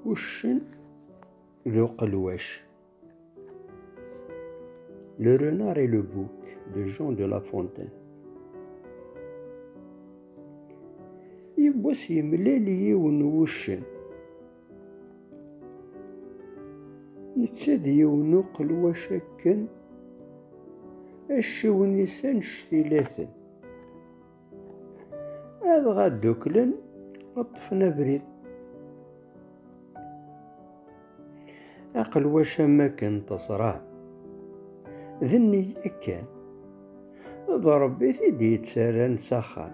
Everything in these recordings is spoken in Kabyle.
uccen d uqelwac. Le renard et le bouc de Jean de La Fontaine. Yiwwas yemlal yiwen wuccen. Netta d yiwen uqelwac akken acciwen-is anect ilaten. adɣa dduklen ṭṭfen abrid aqelwac am akken teẓra d nniya kan d ṛebbi t-id yettarran s axxam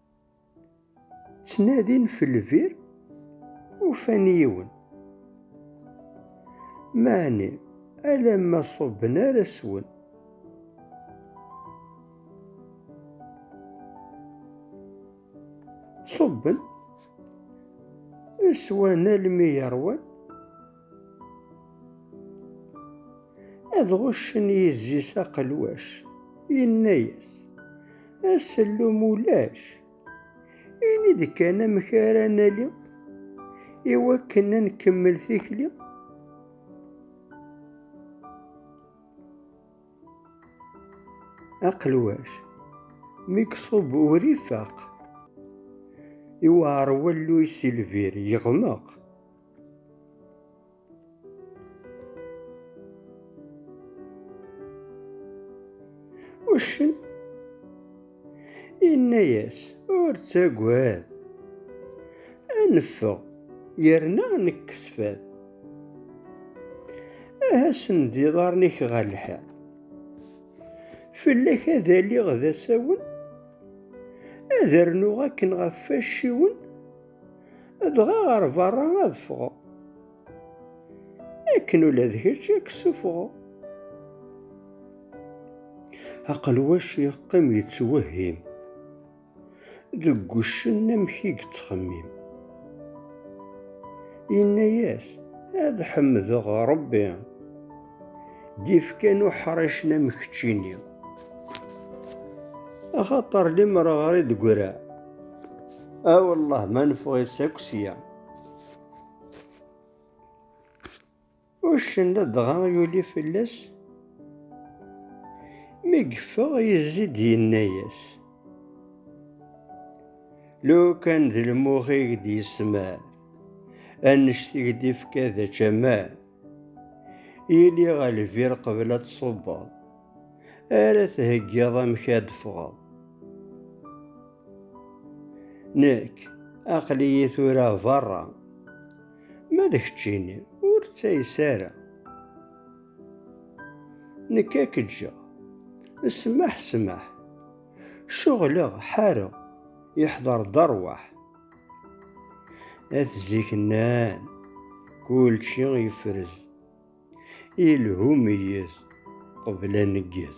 ttnadin f lbir ufan yiwen meɛni alamma ṣubben ar aswen ṣubben swan almi yerwan Ad ɣuccen yizzi-s aqelwac, yenna-yas, Asellum ulac, ini-d kan amek ara nali i wakken ad nkemmel tikli. Aqelwac, mi iṣub ur ifaq, iwɛer walluy si lbir, yeɣmeq. Uccen yenna-yas ur ttagad ad neffeɣ yerna nekkes fad aha send iḍarren-ik ɣer lḥiḍ fell-ak ad aliɣ d asawen ad rnuɣ akken ɣef wacciwen Dɣa ɣer berra ad ffɣeɣ. Akken ula d kečč ad k-ssufɣeɣ. Aqelwac yeqqim yettwehhim. Deg wuccen amek i yettxemmim. Yenna-yas, Ad ḥemdeɣ Ṛebbi. d ifkan uḥricen am keččini axaṭer limer ɣer i d-gra awellah ma neffeɣ-itt akk sya uccen ladɣa yuli fell-as mi yeffeɣ yezzi-d yenna-yas lukan d lmux i d-yesmar annect i d-ifka d ačamar Yili ɣer lbir qbel ad tṣubbeḍ, ara theggiḍ amek ad d-ffɣeḍ. Nekk, aql-iyi tura berra, ma d keččini ur ttayes ara. Nekk ad k-ǧǧeɣ, ssmaḥ ssmaḥ, ceɣleɣ ḥareɣ, yeḥder-d rrwaḥ. At zik nnan, kulci ifrez, ilhu meyyez, qbel aneggez.